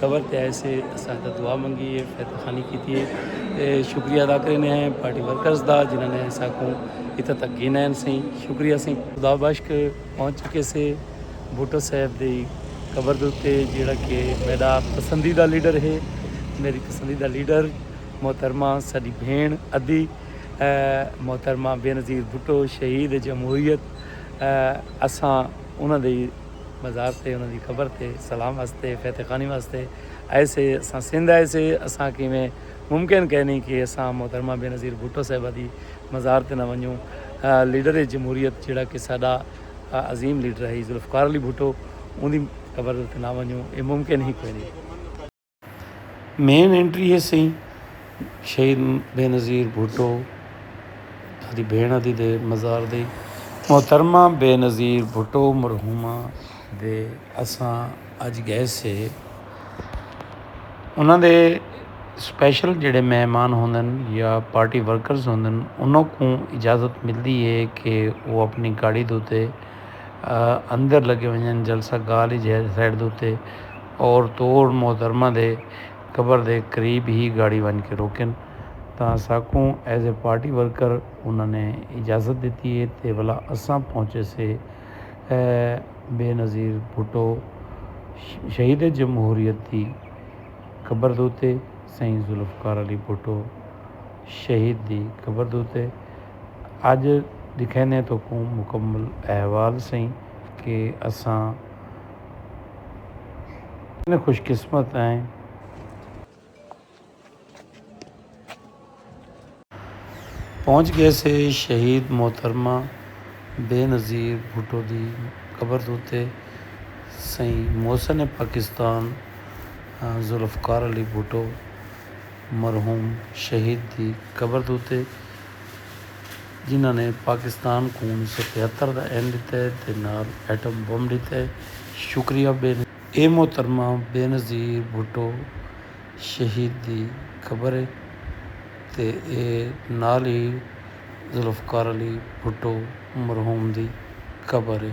قبر تے آئے سے اساں دا دعا منگی ہے فیتہ خانی کیتی ہے تے شکریہ ادا کرنے ہیں پارٹی ورکرز دا جنہاں نے ایسا کو اتھا تک گھن ہیں سیں شکریہ سیں خدا بشک پہنچ چکے سے بھٹو صاحب دی قبر دوتے جیڑا کہ میرا پسندیدہ لیڈر ہے میری پسندیدہ لیڈر محترمہ ساڈی بھین ادی محترمہ بینظیر بھٹو شہید جمہوریت اساں انہاں دی مزار تے انہاں دی قبر تے سلام واسطے فیت خانی واسطے آئے سے اساں سندھ آئے سے اساں کیویں ممکن کہہ نہیں کہ اساں محترمہ بے نظیر بھٹو صاحبہ دی مزار تے نہ ونجوں لیڈر جمہوریت جیڑا کہ ساڈا عظیم لیڈر ہئی ذوالفقار علی بھٹو اوندی قبر تے نہ ونجوں اے ممکن ہی کوئی نہیں۔ مین اینٹری ہے سئیں شہید بینظیر بھٹو دی بھیڑ دی دے مزار دی محترمہ بینظیر بھٹو مرحومہ دے اساں اج گئے سے انہاں دے سپیشل جڑے مہمان ہوندن یا پارٹی ورکرز ہوندن انہاں کو اجازت ملدی ہے کہ وہ اپنی گاڑی دوتے اندر لگے ونجن جلسہ گال ہی جہاز سائڈ دوتے اور توڑ محترمہ دے قبر دے قریب ہی گاڑی ونج کے روکن تاں اساکوں ایز اے پارٹی ورکر انہاں نے اجازت ڈتی اے تے ولا اساں پہنچے سے اے بے نظیر بھٹو شہید جمہوریت دی قبر دوتے سئیں ذوالفقار علی بھٹو شہید دی قبر دوتے اج ڈکھیندے توکوں مکمل احوال سئیں کہ اساں کتنے خوش قسمت ہیں۔ پہنچ گئے سے شہید محترمہ بے نظیر بھٹو دی قبر دے اتے سئیں محسن پاکستان ذوالفقار علی بھٹو مرحوم شہید دی قبر دے اتے۔ جنہاں نے پاکستان کوں انیس سو تہتر دا این ڈتے تے نال ایٹم بم ڈتے، شکریہ بے نظیر۔ اے محترمہ بے نظیر بھٹو شہید دی قبر اے تے اے نال ہی ذوالفقار علی بھٹو مرحوم دی قبر اے۔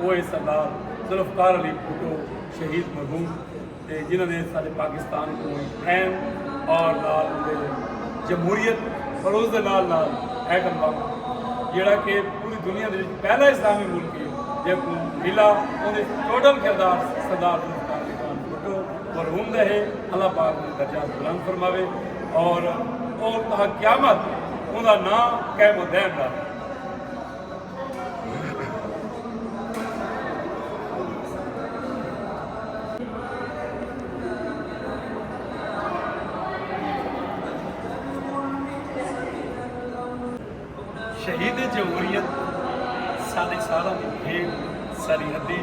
اوہ سردار ذوالفقار علی بھٹو شہید مرحوم تے جنہاں نے ساڈے پاکستان کوں ہک اہم اور نال اوندے جمہوریت اور اس دے نال نال ایٹم بم جیڑا کہ پوری دنیا دے وچ پہلا اسلامی ملک ہے جیکوں ملا اوندے ٹوٹل کردار سردار ذوالفقار علی خان بھٹو مرحوم دا ہے اللہ پاک نے درجات بلند فرماوے اور اور تاں قیامت اوندا نام قائم و دائم رہے شہید جمہوریت سارے سالہ دی بھیڑ سرحدی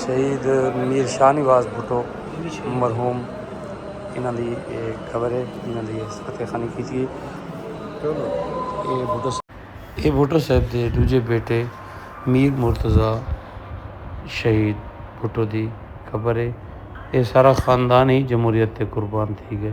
شہید میر شاہ نواز بھٹو مرحوم انہاں دی قبر ہے انہاں دی فتح خانی کی تھی اے بھٹو صاحب دے دوجے بیٹے میر مرتضی شہید بھٹو دی قبر ہے اے سارا خاندان ہی جمہوریت تے قربان تھی گئے۔